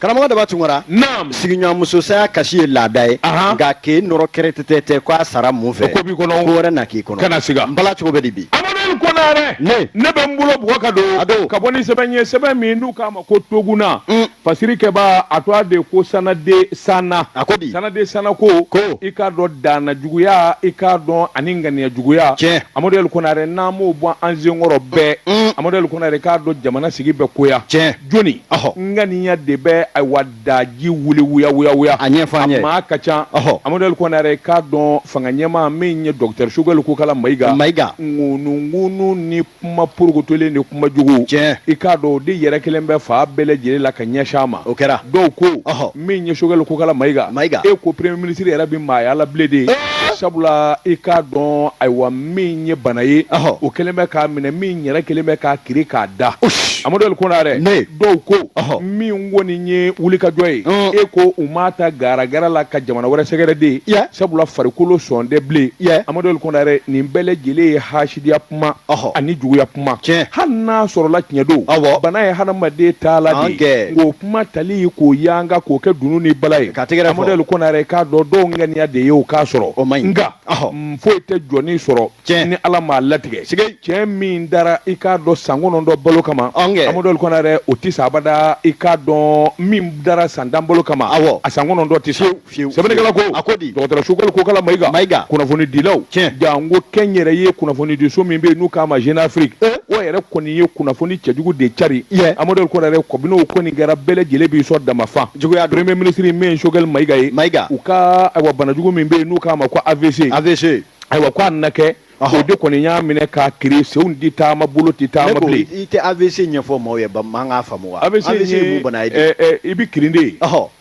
karamɔgɔ daba tunkara sigiɲɔgɔnmuso saya kasi ye laada ye nka k'e nɔrɔ kɛrɛtɛtɛ tɛ ko a sara mun fɛ ko wɛrɛ na k'i kɔnɔ kana siga n bala cogo bɛ di bi amadu l konare ne ne bɛ n bolo bugɔ ka don a don ka bɔ ni sɛbɛn ye sɛbɛn min n'u k'a ma ko toguna mm. fasiri kɛbaa a to a de ko sanade sanna a ko di sanade sanna ko ko i k'a dɔn danna juguya i k'a dɔn ani ŋaniya juguya tiɲɛ amadu l konare n'an m'o bɔ an senkɔrɔ bɛɛ mm. amadu l konare i k'a dɔn jamana sigi bɛ goya tiɲɛ jɔni ŋaniya de bɛ ayiwa daji wuli wuya a ɲɛfɔ maa ka ca amadu l konare i k'a dɔn fanga ɲɛmaa min ye docteur choguel kokala mayiga mayiga ŋunuŋunu ni kuma porokotolen ni kuma jugu cɛ i k'a dɔn o de yɛrɛ kɛlen bɛ fan bɛɛ lajɛlen la ka ɲɛsin a ma o kɛra dɔw ko min ye choguel kokala mayiga mayiga e ko premier ministre yɛrɛ tɛ maaya la bilen de sabula i k'a dɔn ayiwa min ye bana ye o kɛlen bɛ k'a minɛ min yɛrɛ kɛlen bɛ k'a kirin k'a da amadu l konare ne dɔw ko min kɔni ye wulikajɔ ye e ko u m'a ta garagara la ka jamana wɛrɛ sɛgɛrɛ de sabula farikolo sɔn tɛ bilen amadu l konare nin bɛɛ lajɛlen ye hasidiya kuma ani juguya kuma tiɲɛ hali n'a sɔrɔla tiɲɛ don awɔ bana ye hadamaden taalan de ye k'o kuma tali k'o yanga k'o kɛ dunun ni bala ye ka tɛgɛrɛ amadu l konare i k'a dɔn dɔw ŋaniya de ye o k'a sɔrɔ o man ɲi nka foyi tɛ jɔni sɔrɔ tiɲɛ ni ala m'a latigɛ sike tiɲɛ min dara i k'a dɔn san kɔnɔntɔn balo kama amadu l konare o tɛ sa abada i k'a dɔn min dara san tan balo kama awɔ a san kɔnɔntɔn tɛ sa fiyewu sɛbɛnnikɛla ko a ko di dɔgɔtɔrɔ choguel kokala mayiga mayiga kunnafoni dilaw tiɲɛ janko kɛnyɛrɛye kunnafoni di so min bɛ yen n'u k'a ma jeune afrique eh? o yɛrɛ kɔni ye kunnafoni cɛjugu de cari yɛ amadu l konare kabini o kɔni kɛra bɛɛ lajɛlen b'i sɔn damafa juguya premier ministre min ye choguel mayiga ye mayiga u ka ayiwa banajugu min bɛ yen n'u k'a ma ko avc avc ayiwa ko a nana kɛ o de kɔni y'a minɛ k'a kirin senw tɛ taama bolo tɛ taama bilen i tɛ avc ɲɛfɔ maaw ye ba maa k'a faamu wa avc ye mun bana ye i bɛ kirin de ye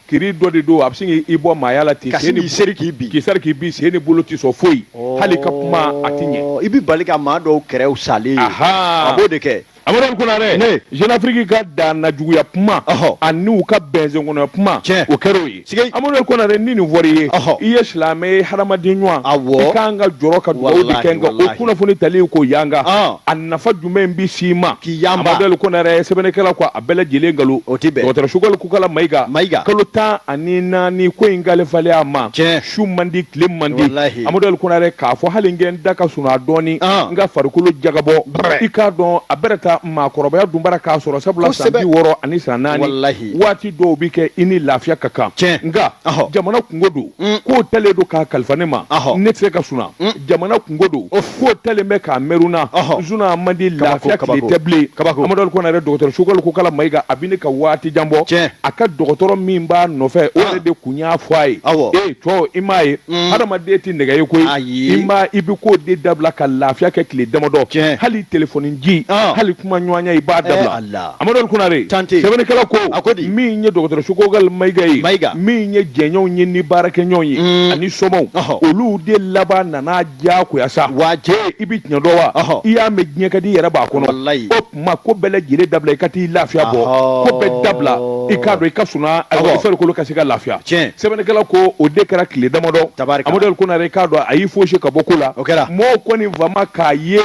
kirin dɔ de don a bɛ sin k'i bɔ maaya la ten. Ka sin k'i seri k'i bin. K'i seri k'i bin sen ni bolo tɛ sɔn foyi. Hali ka kuma a tɛ ɲɛ. I bɛ bali ka maa dɔw kɛrɛw salen ye. A b'o de kɛ. Amadu Konare. Ne. Jeune Afrique ka danna juguya kuma. Ɔhɔ. Ani u ka bɛnsen kɔnɔ kuma. Tiɲɛ. O kɛr'o ye. Siga. Amadu Konare ni nin fɔr'i ye. Ɔhɔ. I ye silamɛ ye hadamaden ɲuman. Awɔ. I kan ka jɔrɔ ka dugawu de kɛ. Walahi walahi. Nka o kunnafoni tali k'o yanga. Ɔn. A nafa jumɛn bɛ s'i ma. K'i yanga. Amadu Konare sɛbɛnnikɛla ko a a bɛɛ lajɛlen nkalon o tɛ bɛn dɔgɔtɔrɔ choguel kokala mayiga mayiga kalo tan ani naani ko in kalifalen a ma tiɲɛ su man di tile man di walahi amadu l konare k'a fɔ hali n kɛ n da ka sunɔgɔ a dɔɔni an n ka farikolo jagabɔ Brɛ. i k'a dɔn a bɛrɛ ta maakɔrɔbaya dunbara k'a sɔrɔ sabula san Kosɛbɛ. bi wɔɔrɔ ani san naani walahi waati dɔw bi kɛ i ni lafiya ka kan Tiɲɛ. nka Ɔhɔ. jamana kunko don Mm. k'o talen don k'a kalifa ne ma Ɔhɔ. ne tɛ se ka suna Mm. jamana kunko don k'o talen bɛ k'a mɛruna Ɔhɔ. suna man di Kabako, lafiya kabako. tile tɛ bilen Kabako. Amadu Konare dɔgɔtɔrɔ Choguel Kokala Mayiga a bɛ ne ka waati jan bɔ Tiɲɛ. a ka dɔgɔtɔrɔ min b'a nɔfɛ o Ah. yɛrɛ de kun y'a fɔ a ye Awɔ. ee cɛ i m'a ye Mm. hadamaden tɛ nɛgɛ ye koyi Ayi. i m'a i bɛ k'o de dabila ka lafiya kɛ tile damadɔ Tiɲɛ. hali telefɔni ci Ah. hali kuma ɲɔgɔnya i b'a Eh, dabila Ala. Amadu Konare tante sɛbɛnnikɛla ko a ko di min ye dɔgɔtɔrɔ Choguel Mayiga ye Mayiga min ye jɛɲɔgɔnw ye ni baarakɛɲɔgɔnw ye mm. ani somaw olu de laban nana diyagoya sa waje i bi tiɲɛ dɔn wa i y'a mɛn diɲɛ ka di i yɛrɛ b'a kɔnɔ o tuma ko bɛɛ lajɛlen dabila i ka t'i lafiya bɔ ko bɛɛ dabila i k'a dɔn i ka suna farikolo ka se ka lafiya tiɲɛ sɛbɛnnikɛla ko o de kɛra tile damadɔ Amadu Konare k'a dɔn a y'i foosi ka bɔ ko la mɔgɔw kɔni fama k'a ye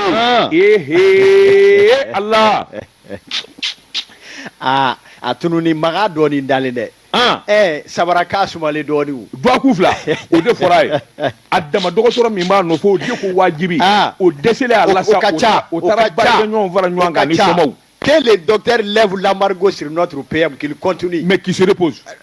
ehe ala aa a tununi maga dɔɔni dalen dɛ an ɛɛ sabara k'a sumalen dɔɔni o dɔgɔkun fila o de fɔra a ye a dama dɔgɔtɔrɔ min b'a nɔfɛ o de ko wajibi Ah. o dɛsɛlen a la sa o ka ca o taara ka ca. baarakɛɲɔgɔnw fara ɲɔgɔn kan ni Ka ca. somaw que le docteur lève l'embargo sur notre PM qu'il continue mais qu'il se repose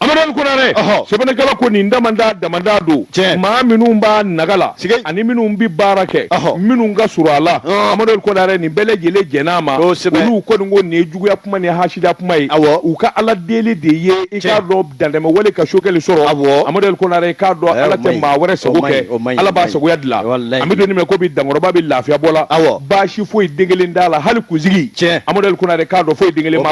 Amadu Konare sɛbɛnnikɛla ko nin dama dama don maa minnu b'a naga la ani minnu bɛ baara kɛ minnu ka surun a la amadu Konare nin bɛɛ lajɛlen jɛnn'a ma olu kɔni ko nin ye juguya kuma ni hasidiya kuma ye u ka ala deli de ye i k'a dɔn dantɛmɛ wale ka Choguel sɔrɔ a amadu Konare k'a dɔn ala tɛ maa wɛrɛ sago kɛ ala b'a sagoya dilan an bɛ don min ko bi dankɔrɔba bɛ lafiya bɔ la aw baasi foyi den kelen t'a la hali kunsigi cɛ amadu Konare k'a dɔn foyi den kelen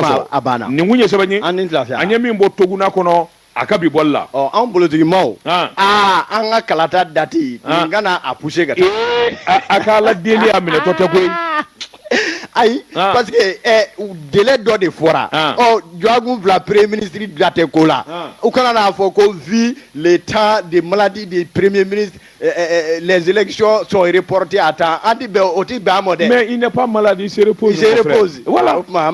nin kun ye sɛbɛn ye an ni lafiya an ye min bɔ Toguna kɔnɔ a ka bi bɔli la ɔ anw bolotigimaw an ah. ah, an ka kalata dati ah. nin kana a puse ka taa a ka ala deli a minɛtɔ tɛ koyi ayi parce que eh, délai dɔ de fɔra ɔ dɔgɔkun fila premier ministre da tɛ ko la u kana n'a fɔ ko vu le temps de maladie du premier ministre les élections sont reportées à temps an tɛ bɛn o tɛ bɛn a ma dɛ mais il n'est pas malade il se repose voilà o tuma an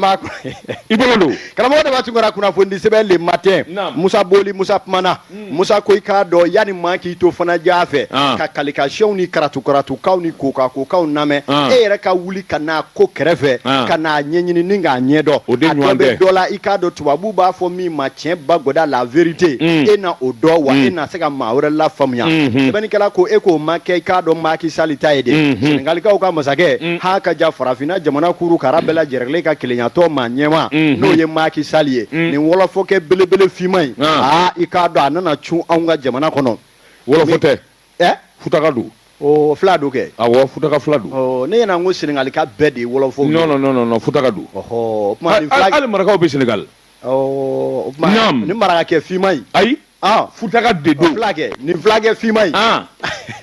b'i bolo don karamɔgɔ de tun ka kunnafoni sɛbɛn Le Matin Musa Boli Musa kumana Musa ko i k'a dɔn yanni maa k'i to fana diya fɛ ka kalikasiyɛnw ni karatu karatukaw ni ko kan kokaw lamɛn e yɛrɛ ka wuli ka n'a ko kɛrɛfɛ ah. ka n'a ɲɛɲini ni k'a ɲɛdɔn a dɔ bɛ dɔ la i k'a dɔn tubabuw b'a fɔ min ma tiɲɛ ba gɔda la vérité mm. e na o dɔn wa mm. e na se ka maa wɛrɛ lafaamuya mm-hmm. sɛbɛnnikɛla ko e k'o ma kɛ i k'a dɔn Macky Sall ta ye de mm-hmm. senegalikaw ka masakɛ mm. ha ka ja farafinna jamana kuru kara bɛɛ lajɛrɛlen ka kelenyatɔn maa ɲɛma mm-hmm. n'o ye Macky Sall ye nin wɔlɔfɔkɛ belebele finman in ah. aa ah, i k'a dɔn a nana cun anw ka jamana kɔnɔ wɔlɔfɔ tɛ ɛ futaka don o fila don kɛ awɔ futaka fila don ɔ ne ɲɛna n ko senegalika bɛɛ de ye wɔlɔfɔw ye non non non non futaka don ɔhɔ o tuma nin fila hali marakaw bɛ senegali ɔ o tuma Naam. nin marakakɛ finman in ayi ɔ futaka de o don fila kɛ nin filakɛ finman in an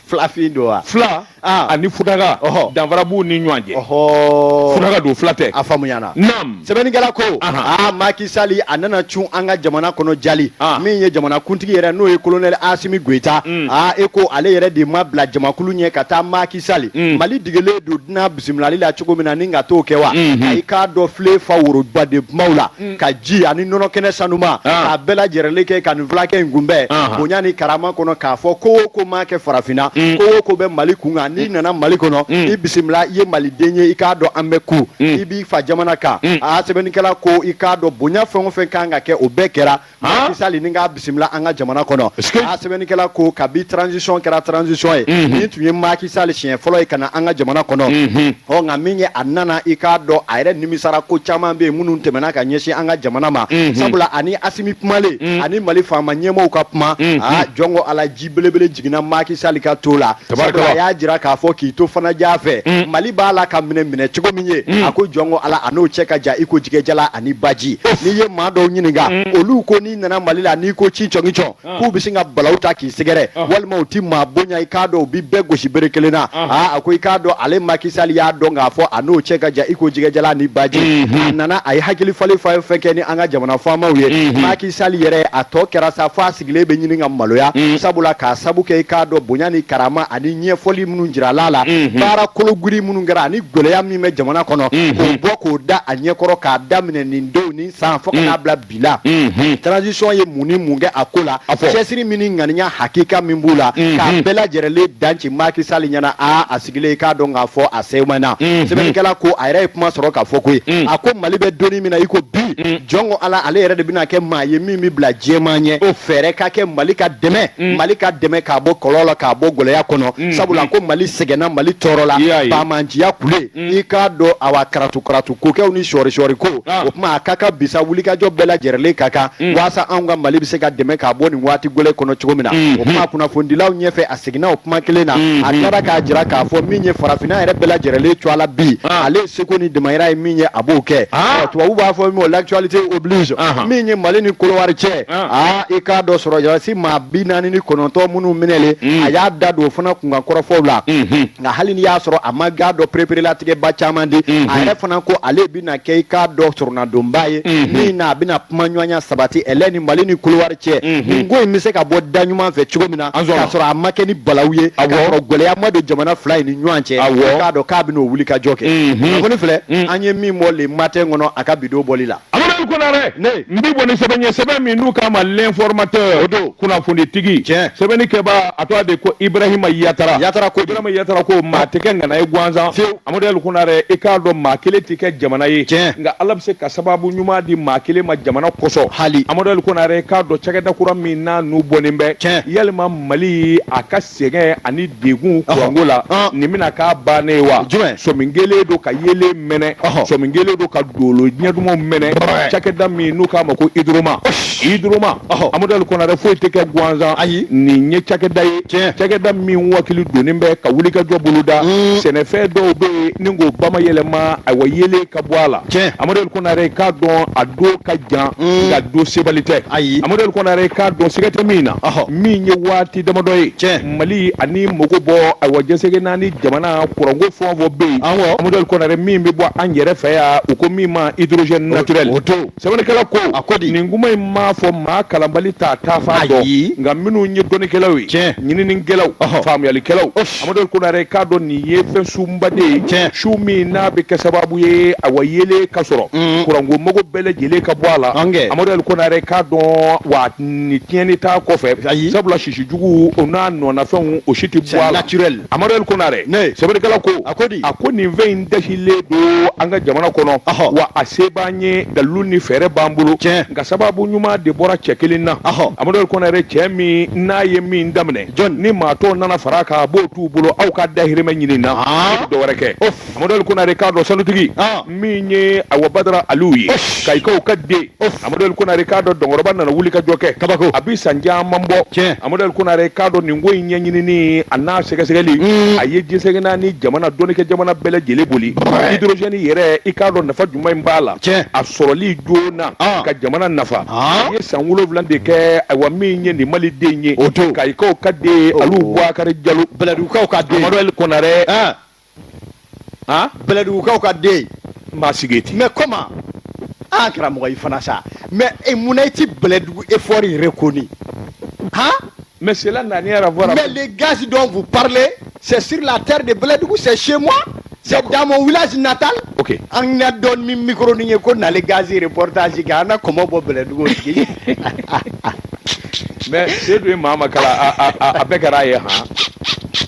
filafin don wa fila Ah. ani futaka Ɔhɔ. danfara b'u ni ɲɔgɔn cɛ ɔhɔ futaka don fila tɛ a faamuyana naam sɛbɛnnikɛla ko aa Macky Sall a nana cun an ka jamana kɔnɔ jali min ye jamana kuntigi yɛrɛ n'o ye colonel Asimi Goyita mm. aa e ko ale yɛrɛ de ma bila jamakulu ɲɛ ka taa Macky Sall mm. Mali degelen don dunan bisimilali la cogo min na ni ka t'o kɛ wa mm-hmm. a i k'a dɔn filen fa woroba den kunbaw la mm. ka ji ani nɔnɔ kɛnɛ sanuma k'a bɛɛ lajɛrɛlen kɛ ka nin fulakɛ in kunbɛn bonya ni karama kɔnɔ k'a fɔ ko o ko ma kɛ farafinna ko o ko bɛ Mali kun kan n'i nana Mali kɔnɔ i bisimila i ye Maliden ye i k'a dɔn an bɛ ku fa jamana kan hmm. a sɛbɛnnikɛla ko i k'a dɔn bonya fɛn o fɛn kan ka kɛ o bɛɛ kɛra Macky Sall ni k'a bisimila an ka jamana kɔnɔ a sɛbɛnnikɛla ko kabi transition kɛra transition ye hmm. nin tun ye Macky Sall siɲɛ fɔlɔ ye ka na an ka jamana kɔnɔ hmm. ɔ nka min ye a nana i k'a dɔn a yɛrɛ nimisara ko caman bɛ yen minnu tɛmɛna ka ɲɛsin an ka jamana ma sabula ani Asimi kumalen ani Mali faama ɲɛmɔgɔw ka kuma aa jɔn ko Ala ji belebele jiginna Macky Sall ka to la, a y'a jira k'a fɔ k'i to fan jan fɛ, mm. Mali b'a la ka minɛ minɛ cogo min ye, mm. a ko jɔn ko Ala a n'o cɛ ka jan i ko jɛgɛjalan ani baji, n'i ye maa dɔw ɲininka, mm. olu ko n'i nana Mali la n'i ko ci cɔngi cɔn, ah. k'u bɛ sin ka balaw ta k'i sɛgɛrɛ, ah. walima u ti maa bonya i k'a dɔn u bi bɛɛ gosi bere kelen na, ah. aa a ko i k'a dɔn ale Macky Sall y'a dɔn k'a fɔ a n'o cɛ ka jan i ko jɛgɛjalan ani baji, mm-hmm. a nana a ye hakili falen fɛn fɛn kɛ ni an ka jamana faamaw ye, mm-hmm. Macky Sall yɛrɛ a tɔ kɛra sa fo a sigilen bɛ ɲini ka maloya mm. sabula k'a sabu kɛ i k'a dɔn bonya ni karama ani ɲɛfɔli minnu jirala a la mm-hmm. baara kologirin minnu kɛra ani gɛlɛya min bɛ jamana kɔnɔ mm-hmm. k'o bɔ k'o da a ɲɛkɔrɔ k'a daminɛ nin don nin san fo ka n'a mm. bila bi la mm-hmm. transition ye mun ni mun kɛ a ko la cɛsiri min ni ŋaniya hakika min b'u la k'a bɛɛ lajɛrɛlen danci Macky Sall ɲɛna aa a sigilen k'a dɔn k'a fɔ a sɛbɛn na sɛbɛnnikɛla ko a yɛrɛ ye kuma sɔrɔ k'a fɔ koyi a ko mali bɛ doni min na i ko bi jɔn ko ala ale yɛrɛ de bɛna kɛ maa ye min bɛ bila jama ɲɛ o fɛɛrɛ ka kɛ mali ka dɛmɛ mali ka dɛmɛ k'a bɔ kɔlɔ la k'a bɔ gɛlɛya kɔnɔ sabula ko mali sɛgɛnna mali tɔɔrɔla banbaganciya ko la i k'a dɔn awa karatu karatu kokɛw ni sɔɔri sɔɔri ko o tuma a ka kan bi sa wulikajɔ bɛɛ lajɛrɛlen ka kan walasasa an ka mali bɛ se ka dɛmɛ k'a bɔ nin waati gɛlɛn kɔnɔ cogo min na o tuma kunnafonidilaw ɲɛfɛ seginna o kuma kelen na mm-hmm. a tilara k'a jira k'a fɔ min ye farafinna yɛrɛ bɛɛ lajɛrɛlen cɔ a la bi ah. ale seko ni damayira ye min ye a b'o kɛ ah. tubabu b'a fɔ min l'actualité oblige ah. min ye mali ni kolowari cɛ aa i k'a dɔn sɔrɔdasi maa bi naani ni kɔnɔntɔn minnu minɛlen mm. a y'a da don o fana kunkan kɔrɔfɔw la mm-hmm. nka hali ni y'a sɔrɔ a ma i k'a dɔn pereperelatigɛba caman di mm-hmm. a yɛrɛ fana ko ale bɛna kɛ i k'a dɔn sɔrɔnadonba ye mhm. min na a bɛna kuma ɲɔgɔnya sabati ɛlɛ ni mali ni kɔdiwari cɛ mhm. nin ko in bɛ se ka bɔ da ɲuman fɛ cogo min na k'a sɔrɔ a ma kɛ ni balawu ye k'a sɔrɔ gɛlɛya ma don jamana fila in ni ɲɔgɔn cɛ k'a dɔn k'a bɛna o wulikajɔ kɛ mhm. kunnafoni filɛ an ye min bɔ le matin kɔnɔ a ka bi don bɔli la. amadu konare n b'i bɔ ni sɛbɛn ye sɛbɛn min n'u k'a ma l'informateur o don kunnafonitigi tiɲɛ sɛbɛnnikɛbaa a tɔgɔ de ko ibrahima yatara yatara ko ibrahima yatara ko maa tɛ kɛ ŋana ye gansan fiyewu Amadu Yɛli Konare i k'a dɔn maa kelen tɛ kɛ jamana ye, tiɲɛ, nka Ala bɛ se ka sababu ɲuman di maa kelen ma jamana kosɔn, hali, Amadu Yɛli Konare i k'a dɔn cakɛda kura min n'a nun bɔnen bɛ, tiɲɛ, yalima Mali a ka sɛgɛn ani degun kuranko la, ɔhɔ, nin bɛna k'a bannen ye wa? Jumɛn? Sɔmi kɛlen don ka yeelen mɛnɛ, ɔhɔ, sɔmi kɛlen don ka dolo ɲɛ dumanw mɛnɛ, cakɛda min n'u k'a ma ko Hydroma. hydroma amadu konare foyi tɛ kɛ gansan ayi nin ye cakɛda ye cakɛda min wakili donnen bɛ ka wulikajɔ boloda mm. sɛnɛfɛn dɔw bɛ yen k'o bayɛlɛma ayiwa yeelen ka bɔ a la amadu konare k'a dɔn a don ka jan mm. nka don sebali tɛ ayi amadu konare k'a dɔn siga tɛ min na min ye waati damadɔ ye tiɲɛ mali ani mago bɔ ayiwa diɲɛ seleke naani jamana kuranko fɛn o fɛn bɛ yen amadu konare min bɛ bɔ an yɛrɛ fɛ yan u ko min ma hydrogène naturel sɛbɛnnikɛla ko a ko di nin kuma in m'a fɔ maa kalanbali t'a taafan dɔn nka minnu ye dɔnnikɛlaw ye tiɲɛ ɲininikɛlaw faamuyalikɛlaw amadu konare k'a dɔn nin ye fɛn sunba de ye tiɲɛ sun min n'a bɛ kɛ sababu ye ayiwa yeelen ka sɔrɔ mm. kuranko mago bɛɛ lajɛlen ka bɔ a la amadu konare k'a dɔn wa nin tiɲɛni t'a kɔfɛ sabula sisi jugu o n'a nɔnafɛnw o si tɛ bɔ a la amadu yɛli konare ne sɛbɛnnikɛla ko a ko di a ko nin fɛn in dasilen don an ka jamana kɔnɔ wa a se b'an ye dalilu ni fɛɛrɛ b'an bolo tiɲɛ nka sababu ɲuman de bɔra cɛ kelen na amadu yɛli konare cɛ min n'a ye min daminɛ jɔn ni maa tɔw nana fara a kan a b'o t'u bolo aw ka dahirimɛ ɲini na dɔwɛrɛ kɛ amadu yɛli konare k'a dɔn sanutigi min ye ayiwa badara aliw ye kayikaw ka den amadu yɛli konare k'a dɔn dɔnkɔrɔba nana wulikajɔ kɛ kabako a bɛ san caman bɔ tiɲɛ amadu yɛli konare k'a dɔn nin ko in ɲɛɲinini an'a sɛgɛsɛgɛli mm. a ye diɲɛ seleke naani jamana dɔnnikɛ jamana bɛɛ lajɛlen boli hidrozɛni yɛrɛ i k'a dɔn nafa jumɛn in b'a la tiɲɛ a sɔrɔli joona ah. ka jamana nafa ah. a ye san wolonwula de kɛ ayiwa min ye nin maliden ye o to kayikaw ka den aliw buwakari jalo bɛlɛdugukaw ka den amadu yɛli konare ah. bɛlɛdugukaw ka den maa sigi ten mais comment karamɔgɔ i fana sa mais e munna i tɛ bɛlɛdugu fɔ i yɛrɛ kɔni han mais cela n'a rien à voir mais les gaz dont vous parlez c'est sur la terre de bɛlɛdugu c'est chez moi c'est dans mon village natal ok an na don min micro ni ye ko na le gaz reportage kɛ an na kɔmɔ bɔ bɛlɛdugu sigi mais sedu ye maa ma kala a bɛɛ kɛra a ye han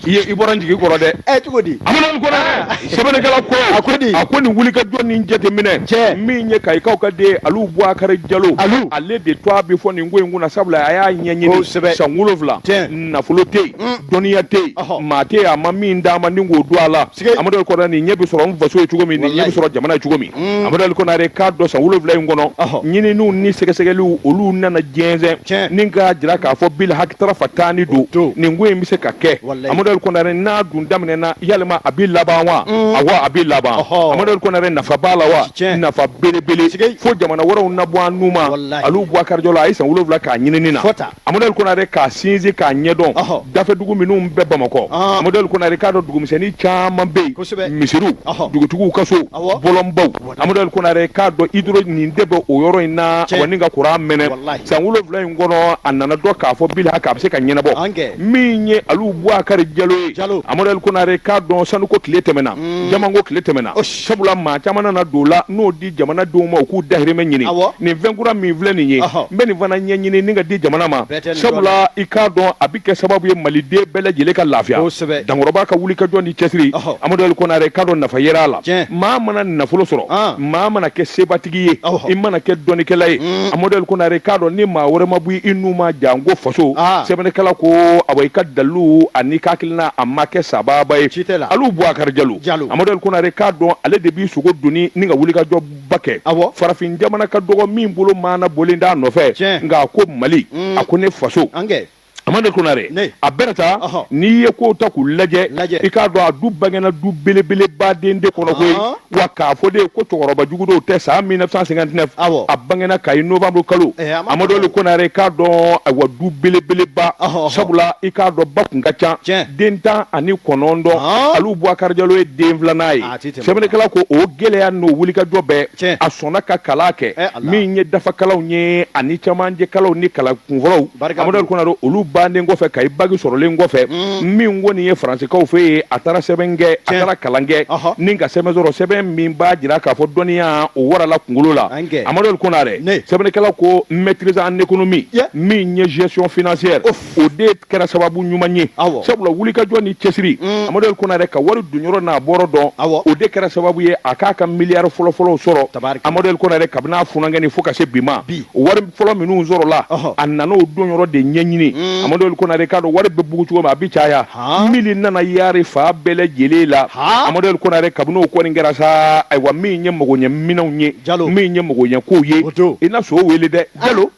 i ye i bɔra n jigi kɔrɔ dɛ ɛ cogo di amadu konare sɛbɛnnikɛla ko a ko di a ko nin wulikajɔ nin jateminɛ cɛ min ye kayikaw ka den alu buwakari jalo alu ale de tɔgɔ bɛ fɔ nin ko in kunna sabula a y'a ɲɛɲini kosɛbɛ san wolonwula nafolo tɛ yen dɔnniya tɛ yen maa tɛ yen a ma min d'a ma ni k'o don a la amadu kɔnare nin ɲɛ bɛ sɔrɔ n faso ye cogo min nin ɲɛ bɛ sɔrɔ jamana ye cogo min mm. amadu kɔnare k'a dɔn san wolowula in kɔnɔ ɲininiw ni sɛgɛsɛgɛliw olu nana jɛnsɛn ni k'a jira k'a fɔ bilhaki tara fa tan ni don nin ko in bɛ se ka kɛ amadu kɔnare n'a dun daminɛna yalima a bɛ laban wa mm. awa a bɛ laban amadu kɔnare nafa b'a la wa nafa belebele fo jamana wɛrɛw na bɔ an nu ma alu buwakari jalo a ye san wolowula k'a ɲinini na Amadu Konare k'a sinsin k'a ɲɛdɔn dafɛdugu minnu bɛ Bamakɔ Amadu Konare k'a dɔn dugumisɛnnin caman bɛ yen misiriw dugutigiw ka so bɔlɔnbaw Amadu Konare k'a dɔn hydro nin de bɛ o yɔrɔ in na wa ni ka kuran mɛnɛ san wolonwula in kɔnɔ a nana dɔn k'a fɔ bilhaki a bɛ se ka ɲɛnabɔ min ye Alu Buwakari Jalo ye Amadu Konare k'a dɔn sanuko tile tɛmɛna jamanko tile tɛmɛna. sabula maa caman nana don la n'o di jamana denw ma u k'u dahirimɛ ɲini nin fɛnkura min filɛ nin ye n bɛ nin fana ɲɛɲini ni ka di jamana ma sabula i k'a dɔn a bɛ kɛ sababu ye maliden bɛɛ lajɛlen ka lafiya dankɔrɔba ka wulikajɔ ni cɛsiri amaduli konare k'a dɔn nafa yera a la maa mana nafolo sɔrɔ maa mana kɛ sebatigi ye i mana kɛ dɔnnikɛla ye mm. amaduli konare k'a dɔn ni maa wɛrɛ ma bɔ i nu ma janko faso sɛbɛnnikɛla ko awa i ka dalilu ani ka na a ma kɛ sababa ye ci tɛ la alu buwakari jalo jalo amadu konare k'a dɔn ale de b'i sogo doni ni ka wulikajɔba kɛ awɔ farafin jamana ka dɔgɔ min bolo maanabɔlen t'a nɔfɛ tiɲɛ nka a ko mali mm. a ko ne faso an kɛ amadu konare a bɛna taa n'i ye kow ta k'u lajɛ i k'a dɔn a dun bangena du belebeleba den de kɔnɔ koyi wa k'a fɔ de ye ko cɛkɔrɔba jugu dɔw tɛ san 1959 awɔ a bangena kayi novembre kalo eh, amadu ali konare k'a dɔn ayiwa du belebeleba sabula i k'a dɔn ba kun ka ca den tan ani kɔnɔntɔn aliw buwakari jalo ye den filanan ye ah, sɛbɛnnikɛla ko o gɛlɛya n'o wulikajɔ bɛɛ a sɔnna ka kalan kɛ eh, min ye dafakalanw ye ani camancɛkalanw ni kalan kunfɔlɔw amadu ali konare olu bannen kɔfɛ kayi baki sɔrɔlen kɔfɛ mm. min kɔni ye faransikaw fɛ yen a taara sɛbɛn kɛ a taara kalan kɛ ni ka sɛbɛn sɔrɔ sɛbɛn min b'a jira k'a fɔ dɔnniya o warala kunkolo la amadu konare sɛbɛnnikɛla ko maîtrise en économie min ye gestion financière o de kɛra sababu ɲuman ye sabula wulikajɔ ni cɛsiri mm. amadu konare ka wari donyɔrɔ n'a bɔyɔrɔ dɔn o de kɛra sababu ye a k'a ka miliyari fɔlɔfɔlɔw sɔrɔ amadu konare kabini a funankɛnin fo ka se bi ma wari fɔlɔ minnu sɔrɔla a nana o donyɔrɔ de ɲɛɲini amadu konare k'a dɔn wari bɛ bugu cogo min a bɛ caya mili nana yari fan bɛɛ lajɛlen la amadu konare kabini o kɔni kɛra sa ayiwa min ye magoɲɛminɛnw ye ja min ye mɔgɔ ɲɛ' ye i na so weele dɛ jalo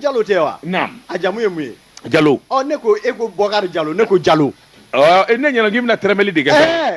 jalo tɛ wa a jamu ye mun ye jalo ne ko e ko bɔkari jalo ne ko jalo ne ɲɛna k'i bɛna tɛrɛmɛli de kɛ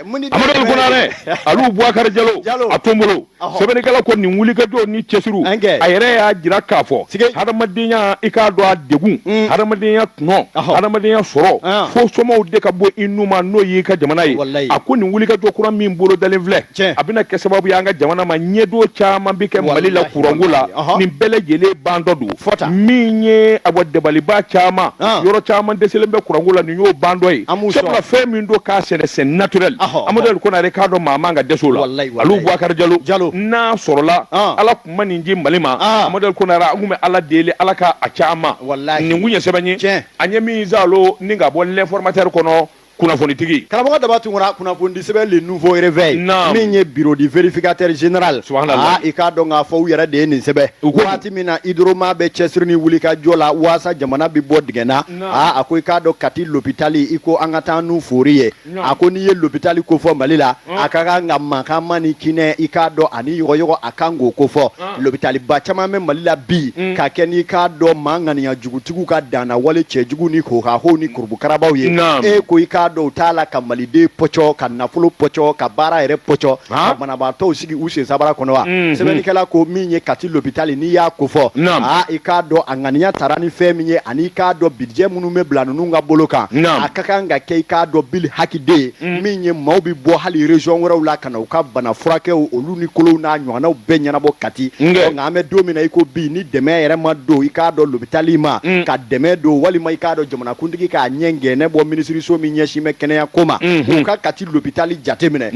amadu konare alu bubakari jalo a to n bolo sɛbɛnnikɛla ko nin wulikajɔ ni cɛsiri a yɛrɛ y'a jira k'a fɔ hadamadenya i k'a dɔn a degun hadamadenya tɔnɔ hadamadenya sɔrɔ fo somaw de ka bɔ i nun ma n'o y'i ka jamana ye a ko nin wulikajɔ kura min bolo dalen filɛ a bɛna kɛ sababu y'an ka jamana ma ɲɛdo caman bɛ kɛ mali la kuranko la nin bɛɛ lajɛlen ban dɔ don fɔta min ye a bɔ dabaliba caman ah. yɔrɔ caman dɛsɛlen bɛ kuranko la nin y'o ban dɔ ye sabula fɛn min don k'a sɛnɛsɛn naturel amaduli konare k'a dɔn maa man ka dɛsɛ o la alu bubakari jalo n'a sɔrɔla ah. ala kun ma nin di mali ma ah. amaduli konare an kun bɛ ala deli ala ka a caman nin kun ye sɛbɛn ye an ye min zalo ni ka bɔ l'informateur kɔnɔ kunnafonitigi karamɔgɔ daba tunkara kunnafonidi sɛbɛn le nouveau réveil min ye bureau du vérificateur général aa i k'a dɔn k'a fɔ u yɛrɛ de ye nin sɛbɛn waati min na hydroma bɛ cɛsiri ni wulikajɔ la waasa jamana bɛ bɔ dingɛ na aa a ko i k'a dɔn kati lopitali i ko an ka taa n'u fori ye a ko n'i ye lopitali kofɔ mali la a ka kan ka mankanma ni kinɛ i k'a dɔn ani yɔgɔyɔgɔ a kan k'o kofɔ lopitaliba caman bɛ mali la bi mm. ka kɛ n'i k'a dɔn maa ŋaniya jugutigiw ka danna wale cɛjugu ni hohaho ni kurubukarabaw ye e ko i k'a dɔn u t'a la ka maliden pɔcɔ ka nafolo pɔcɔ ka baara yɛrɛ pɔcɔ ka banabaatɔw sigi u sen sabara kɔnɔ wa mm-hmm. sɛbɛnnikɛla ko min ye kati lopitali n'i y'a kofɔ a i k'a dɔn a ŋaniya tara ni fɛn min ye ani i k'a dɔn bijɛ minnu bɛ bila ninnu ka bolo kan a ka kan ka kɛ i k'a dɔn bili hakiden mm. min ye maaw bɛ bɔ hali région wɛrɛw la u ka bana furakɛw olu ni kolow n'a ɲɔgɔnnaw bɛɛ ɲɛnabɔ kati nka an bɛ don min na i ko bi ni dɛmɛ yɛrɛ ma don i k'a dɔn lopitali ma mm. ka dɛmɛ don walima i k'a dɔn jamanakuntigi k'a ɲɛ gɛnɛ bɔ minisiriso min ɲɛsin bɛ kɛnɛya ko ma mm-hmm. u ka kati lopitali jateminɛ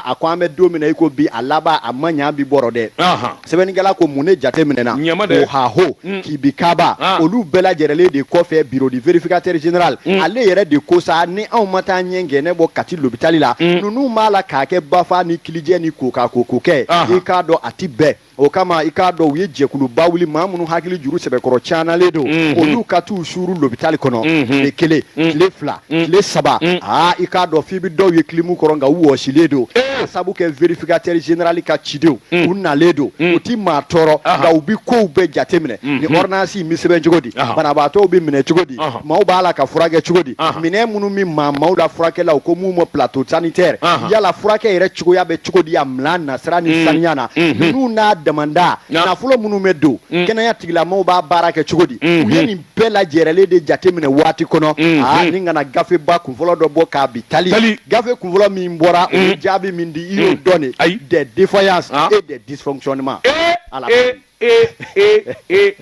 a ko an bɛ don min na i ko bi a laban a ma ɲɛ bi bɔra dɛ sɛbɛnnikɛla ko mun ne jate minɛna o haho mm. kibikaba ah. olu bɛɛ lajɛrɛlen de kɔfɛ bureau du vérificateur général mm. ale yɛrɛ de ko sa ni anw ma taa ɲɛ gɛnɛ bɔ kati lopitali la mm. ninnu b'a la k'a kɛ bafa ni kilijɛ ni koka koko kɛ ah. i k'a dɔn a ti bɛn o kama i k'a dɔn u ye jɛkuluba wuli maa minnu hakili juru sɛbɛkɔrɔ caanalen don mm-hmm. olu ka t'u suuru lopitali kɔnɔ mm-hmm. tile kelen mm-hmm. tile fila mm. tile saba mm. aa i k'a dɔn f'i bɛ dɔw ye kilimu kɔrɔ nka u wɔsilen don eh. ka sabu kɛ vérificateur général ka cidenw mm. u nalen don u ti maa tɔɔrɔ nka u bi kow bɛɛ jate minɛ mm-hmm. ni ordonnance in bɛ sɛbɛn cogo di banabaatɔw bɛ minɛ cogo di maaw b'a la ka furakɛ cogo di minɛn minnu bɛ maa maaw la furakɛlaw ko min ma plateau sanitaire yala furakɛ yɛrɛ cogoya bɛ cogo di a minan nasira ni saniya na ninnu n'a damanda nafolo minnu bɛ don kɛnɛya tigilamɔgɔw b'a baara kɛ cogo di u ye nin bɛɛ lajɛrɛlen de jateminɛ waati kɔnɔ mm, aa mm. ni ka na gafeba kunfɔlɔ dɔ bɔ k'a bi tali gafe kunfɔlɔ min bɔra o ye mm. jaabi min di i y'o dɔn de ayi des défaillances ah. et des dysfonctionnements eh, ala eh, eh,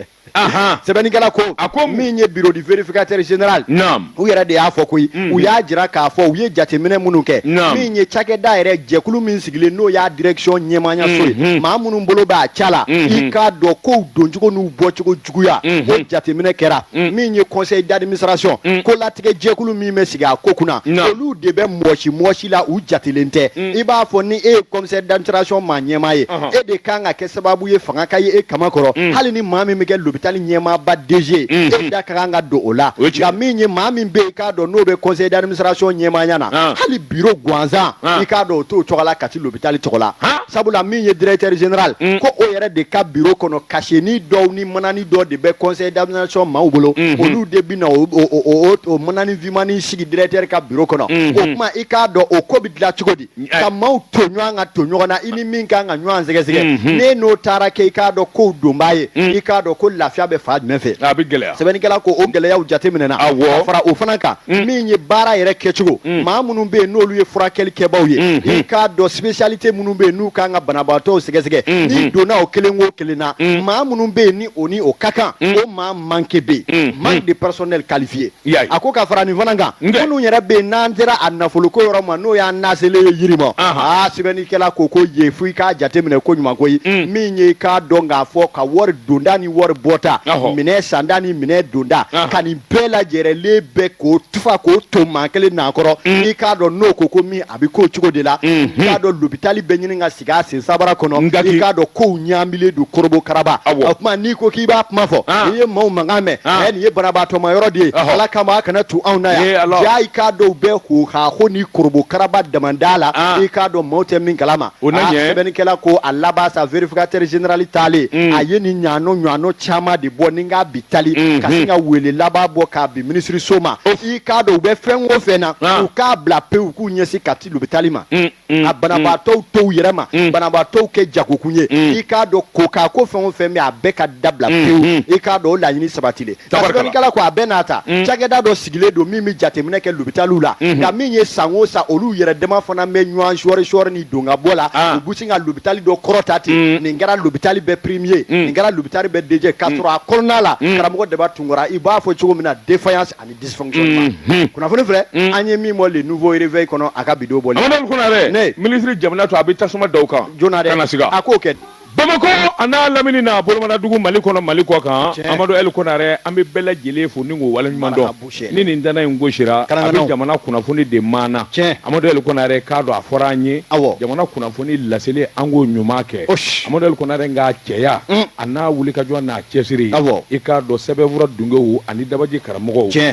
sɛbɛnnikɛla ko a ko min ye bureau du vérificateur général u yɛrɛ de y'a fɔ koyi u y'a jira k'a fɔ u ye jateminɛ minnu kɛ min ye cakɛda yɛrɛ jɛkulu min sigilen n'o y'a direction ɲɛmaayaso ye maa minnu bolo b'a ca la i k'a dɔn kow doncogo n'u bɔcogo juguya o jateminɛ kɛra min ye conseil d'administration kolatigɛ jɛkulu min bɛ sigi a ko kunna olu de bɛ mɔgɔsi mɔgɔsi la u jatelen tɛ i b'a fɔ ni e ye conseil d'administration maa ɲɛmaa ye e de kan ka kɛ sababu ye fanga ka ye e kaman kɔrɔ hali ni maa min bɛ kɛ lopitali ɲɛmaaba DG e da ka kan ka don o la nka min ye maa min bɛ yen i k'a dɔn n'o bɛ conseil d'administration ɲɛmaaya na hali bureau gansan i k'a dɔn o t'o tɔgɔ la Kati lopitali tɔgɔ la. sabula min ye directeur général mm. ko o yɛrɛ de ka bureau kɔnɔ kaseni dɔw ni manani dɔ de bɛ conseil d'administration maaw bolo mm -hmm. olu de bɛna o, o, o, o, o manani vimani sigi directeur ka bureau kɔnɔ mm -hmm. o kuma i k'a dɔn o ko bɛ dilan cogo di mm, ka maaw to ɲɔgɔn ka to ɲɔgɔn na i ni min kan ka ɲɔgɔn sɛgɛsɛgɛ mm -hmm. n'e n'o taara kɛ i k'a dɔn kow donbaa ye mm. i k'a dɔn ko lafiya bɛ fan jumɛn fɛ a bɛ gɛlɛya sɛbɛnnikɛla ko o gɛlɛyaw jateminɛna awɔ ka fara o fana kan Mm. min ye baara yɛrɛ kɛcogo mm. maa minnu bɛ yen n'olu ye furakɛli kɛbaaw ye mm, i k'a dɔn spécialité minnu bɛ yen n'u kan ka banabaatɔw sɛgɛsɛgɛ n'i donna o kelen o kelen na maa minnu bɛ yen ni o ni o ka kan o maa manque bɛ yen manque de personnel qualifié a ko ka fara nin fana kan minnu yɛrɛ bɛ yen n'an sera a nafoloko yɔrɔ ma n'o y'an naselen ye yiri ma aa sɛbɛnnikɛla ko ko ye fo i k'a jateminɛ koɲuman koyi min ye i k'a dɔn k'a fɔ ka wari donta ni wari bɔta minɛn santa ni minɛn donta ka nin bɛɛ lajɛrɛlen bɛɛ k'o tufa k'o to maa kelen n'a kɔrɔ mm. i k'a dɔn n'o ko ko min a bɛ k'o cogo de la mm-hmm. i k'a dɔn lopitali bɛ ɲini ka sigi a sen sabara kɔnɔ i k'a dɔn kow ɲaamilen don korobo karaba o tuma n'i ko k'i b'a kuma fɔ ah. n'i ye maaw mankan mɛn ah. nin ye banabaatɔma yɔrɔ de ye ala kama a kana tu anw na yan jaa i k'a dɔn bɛɛ hohaho ni korobo karaba damanda la ah. i k'a dɔn maaw tɛ min kalama sɛbɛnnikɛla ko a laban sa vérificateur général taalen mm. a ye nin ɲaano ɲaano caman de bɔ ni n k'a bi tali mm -hmm. ka sin ka wele laban bɔ k'a bin minisiriso ma i k'a dɔn u bɛ fɛn o fɛn na ah. u k'a bila pewu k'u ɲɛsin Kati lopitali ma mm -hmm. a banabaatɔw mm. to u yɛrɛ ma mm. banabaatɔw kɛ jagokun ye mm. i k'a dɔn ko k'a ko fɛn o fɛn bɛ a bɛɛ ka dabila pewu mm-hmm. i k'a dɔn o laɲini sabatilen tɛ sɛbɛnnikɛla ko a bɛɛ n'a ta mm. cakɛda dɔ sigilen don min bɛ jateminɛ kɛ lopitaliw la unhun nka min ye san o san olu yɛrɛ dama fana bɛ ɲɔgɔn sɔɔri sɔɔri ni don ka bɔ la Ah. u bɛ sin ka lopitali dɔ kɔrɔta ten Mm. nin kɛra lopitali bɛɛ premier Mm. nin kɛra lopitali bɛɛ deuxième k'a sɔrɔ a kɔnɔna la Mm. karamɔgɔ Daba Tunkara i b'a fɔ cogo min na défaillance ani dysfonctionnement Mhm. kunnafoni filɛ Mm. an ye min bɔ le nouveau réveil kɔnɔ a ka bidon bɔlen Amadu Konare Ne. minisiri jamana to a bɛ tasuma da u kan joona dɛ kana siga a k'o kɛ Bamakɔ a n'a lamini n'a bolomadugu mali kɔnɔ mali kɔ kan amadu ɛli konare an bɛ bɛɛ lajɛlen fo ni waleɲumandɔn ni nin tanan in gosira a bɛ jamana kunnafoni de maana amadu ɛli konare k'a dɔn a fɔra an ye jamana kunnafoni laseli an k'o ɲuman kɛ amadu ɛli konare ka cɛya a n'a wulikajɔ n'a cɛsiri i k'a dɔn sɛbɛnfura dunkew ani dabaji karamɔgɔw